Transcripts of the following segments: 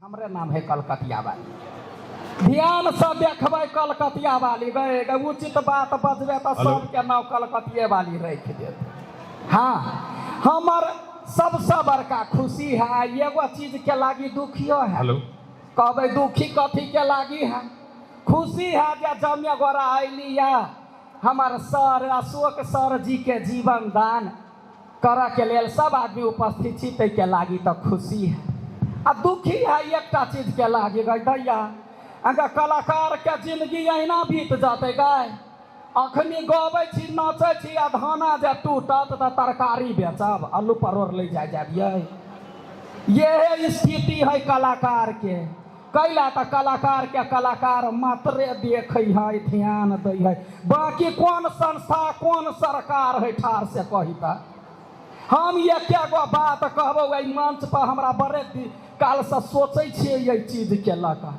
हमरे नाम है कलकतिया वाली ध्यान से देखबै कलकतिया वाली गए गए उचित बात बजबे तो हेलो। सबके नाम कलकतिये वाली रख देत हाँ हमर सबसे बड़का खुशी है एगो चीज के लागी दुखियो है हेलो कहबै दुखी कथी के लागी है खुशी है जे जमे गोरा अयली है हमर सर अशोक सर जी के जीवन दान करऽ के लेल सब आदमी उपस्थित छी ताहिके लागी तऽ खुशी है आ दुखी है एकटा चीजके लागी गई दैया अगर कलाकारके जिंदगी अहिना बीत जेतै गई अखनी गबै छी नाचै छी आ धाना जे टूटत तऽ तरकारी बेचब आलू परोर ले जाय जाबियै यह स्थिति है कलाकारके कैला तऽ कलाकार के कलाकार मात्रे देखे है ध्यान दै है बाकी कोन संस्था कोन सरकार है ठार से कही तऽ हम एक गो बात कहबो एहि मंच पर हमरा बड़े काल से सोचे छियै एहि चीज के लऽ कऽ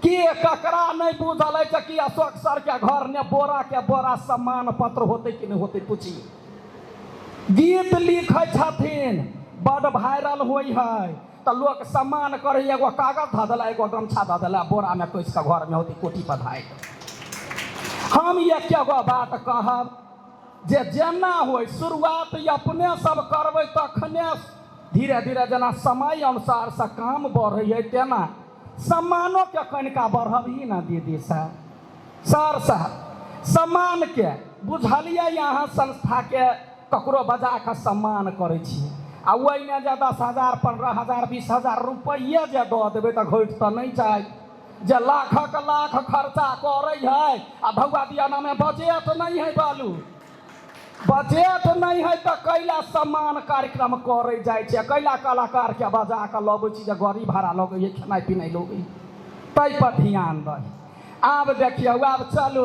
कि ककरा नहि बुझल है कि अशोक सर के घर ने बोरा के बोरा सम्मान पत्र होते कि नहीं होते पूछिए गीत लिखे छथिन बड़ वायरल होइ है तऽ लोक सम्मान करै एगो कागज धऽ देला एगो गमछा धऽ देला बोरामे कोसि कऽ घरमे होती कोटी पधाइ हम एके गो बात कहब जे जेना होइ शुरुआत अपने सब करबै तखने धीरे धीरे जेना समय अनुसारसँ काम बढ़ैए तेना सम्मानोके कनिका बढ़बही ने दीदी सर सर साहब सम्मानके बुझलियै अहाँ संस्थाके ककरो बजा कऽ सम्मान करै छी आ ओहिमे जे दस हजार पन्द्रह हजार बीस हजार रुपैए जे दऽ देबै तऽ घटि तऽ नहि जाइ जे लाखक लाख खर्चा करै है आ भौआ दियानामे बजेट नहि है बालू बजेट नहि है तऽ कैला सम्मान कार्यक्रम करै जाइ छै कैला कलाकारके बजा कऽ लबै छी जे गाड़ी भाड़ा लगै है खेनाइ पिनाइ लगै ताहिपर ध्यान दै आब देखियौ आब चलू